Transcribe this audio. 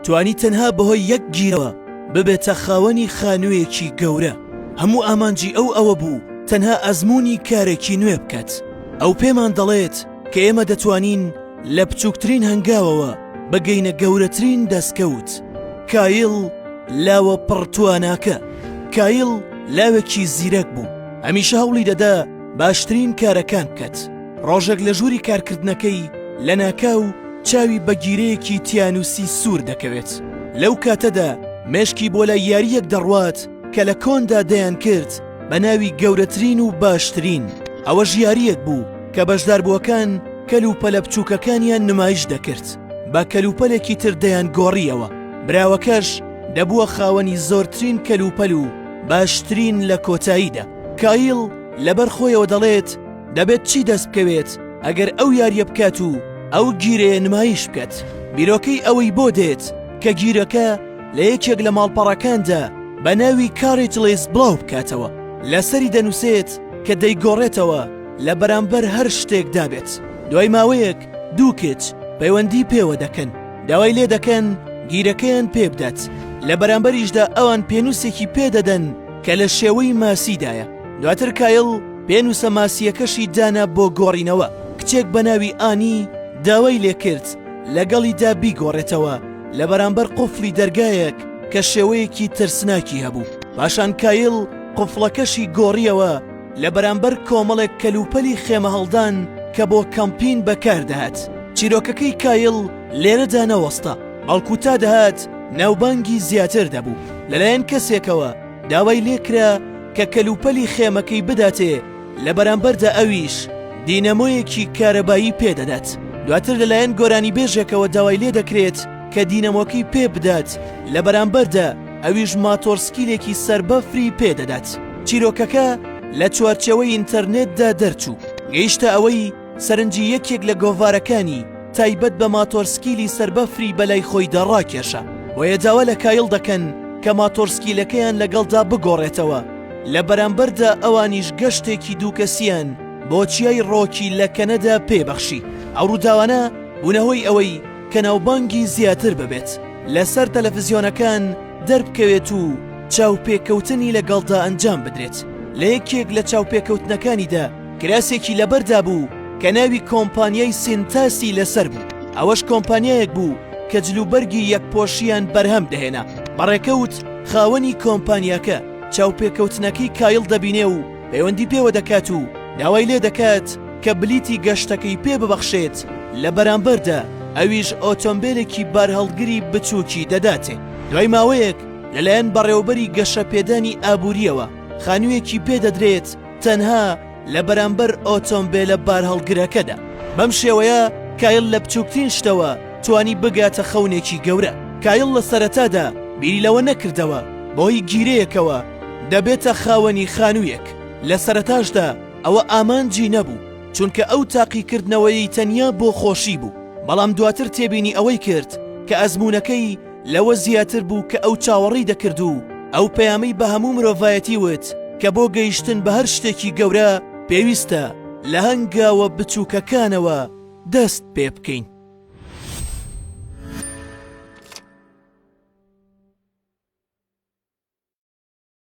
توانی تەنها بەهۆی یەک گیرەوە ببێتە خاوەنی خانوویەکی گەورە هەموو ئامانجی ئەو ئەوە بوو تەنها ئەزمموی کارێکی نوێ بکات ئەو پێمان دەڵێت کە ئێمە دەتوانین لە بچووکترین هەنگاوەوە بەگەینە گەورەترین دەستکەوت کایل لاوە پڕتواناکە کایل لاوێکی زیرەک بوو هەمیشە هەوڵی دەدا باشترین کارەکان بکات. ڕۆژێک لە ژووری کارکردنەکەی لەناکاو چاوی بە گیرەیەکی تیانوسی سوور دەکەوێت لەو کاتەدا مێشکی بۆ لای یاریەک دەڕوات کە لە کۆندا دەیان کرد بە ناوی گەورەترین و باشترین ئەوە ژیاریەک بوو کە بەشداربووەکان کەل و پەلە بچووکەکانیان نمایش دەکرد بە کەلوپەلێکی تر دەیان گۆڕیەوە براوەکەش دەبووە خاوەنی زۆرترین کەلوپەل و باشترین لە کۆتاییدا کایل لەبەر خۆیەوە دەڵێت دەبێت چی دەست بکەوێت ئەگەر ئەو یاریە بکات و ئەو گیرەیە نمایش بکەت بیرۆکەی ئەوەی بۆ دێت کە گیرەکە لە یەکێک لە ماڵپەڕەکاندا بە ناوی کاریت لێس بڵاو بکاتەوە لەسەری دەنووسێت کە دەیگۆڕێتەوە لە بەرامبەر هەر شتێک دابێت دوای ماوەیەک دوو کچ پەیوەندی پێوە دەکەن داوای لێ دەکەن گیرەکەیان پێ بدات لە بەرامبەریشدا ئەوان پێنووسێکی پێدەدەن کە لە شێوەی ماسیدایە دواتر کایڵ پێنووسە ماسییەکەشی دانا بۆ گۆڕینەوە کچێک بە ناوی ئانی داوای لێکرد لەگەڵیدا بیگۆڕێتەوە لە بەرامبەر قفلی دەرگایەک کە شێوەیەکی ترسناکی هەبوو پاشان کایل قفڵەکەشی گۆڕیەوە لە بەرامبەر کۆمەڵێک کەلوپەلی خێمە هەڵدان کە بۆ کەمپین بەکاردەهات چیرۆکەکەی کایل لێرەدا نەوەستا بەڵکو تا دەهات ناوبانگی زیاتر دەبوو لەلایەن کەسێکەوە داوای لێکرا کە کەلوپەلی خێمەکەی بداتێ لە بەرامبەردا ئەویش دینەمۆیەکی کارەبایی پێدەدات دواتر لەلایەن گۆرانی بێژێکەوە داوای لێ دەکرێت کە دینەمۆکەی پێ بدات لە بەرامبەردا ئەویش ماتۆڕسکیلێکی سەر بەفری پێدەدات چیرۆکەکە لە چوارچەوەی ئینتەرنێتدا دەرچوو گەیشتە ئەوەی سەرنجی یەکێک لە گۆڤارەکانی تایبەت بە ماتۆرسکیلی سەربەفری بەلای خۆیدا ڕاکێشا، بۆیە داوا لە کایڵ دەکەن کە ماتۆرسکیلەکەیان لەگەڵدا بگۆڕێتەوە، لە بەرامبەردا ئەوانیش گەشتێکی دوو کەسییان بۆ چیای ڕۆکی لە کەنەدا پێ بەخشی، ئەو ڕووداوانە بوونە هۆی ئەوەی کە ناوبانگی زیاتر ببێت، لەسەر تەلەفزیۆنەکان دەربکەوێت و چاوپێکەوتنی لەگەڵدا ئەنجام بدرێت، لە یەکێک لە چاوپێکەوتنەکانیدا، کراسێکی لەبەردا بوو کە ناوی کۆمپانیای سینتاسی لەسەر بوو، ئەوەش کۆمپانیایەک بوو کە جلوبەرگی یەکپۆشییان بەرهەم دەهێنا. بە ڕێکەوت خاوەنی کۆمپانیاکە چاوپێکەوتنەکەی کایڵ دەبینێ و پەیوەندی پێوە دەکات و داوای لێ دەکات کە بلیتی گەشتەکەی پێ ببەخشێت، لە بەرامبەردا ئەویش ئۆتۆمبێلێکی بارهەڵگری بچووکی دەداتێ. دوای ماوەیەک لەلایەن بەڕێوەبەری گەشەپێدانی ئابوورییەوە خانوویەکی پێ دەدرێت، تەنها لە بەرامبەر ئۆتۆمبێلە بارهەڵگرەکەدا. بەم شێوەیە کایڵ لە بچووکترین شتەوە توانی بگاتە خەونێکی گەورە. کایڵ لە سەرەتادا بیری لەوە نەکردەوە بەهۆی گیرەیەکەوە دەبێتە خاوەنی خانوویەک. لە سەرەتاشدا ئەوە ئامانجی نەبوو، چونکە ئەو تاقیکردنەوەیەی تەنیا بۆ خۆشی بوو. بەڵام دواتر تێبینی ئەوەی کرد کە ئەزموونەکەی، لەوە زیاتر بوو کە ئەو چاوەڕی دەکرد و ئەو پەیامەی بە هەموو مرۆڤایەتی وت کە بۆ گەیشتن بە هەر شتێکی گەورە پێویستە لە هەنگاوە بچووکەکانەوە دەست پێ بکەین.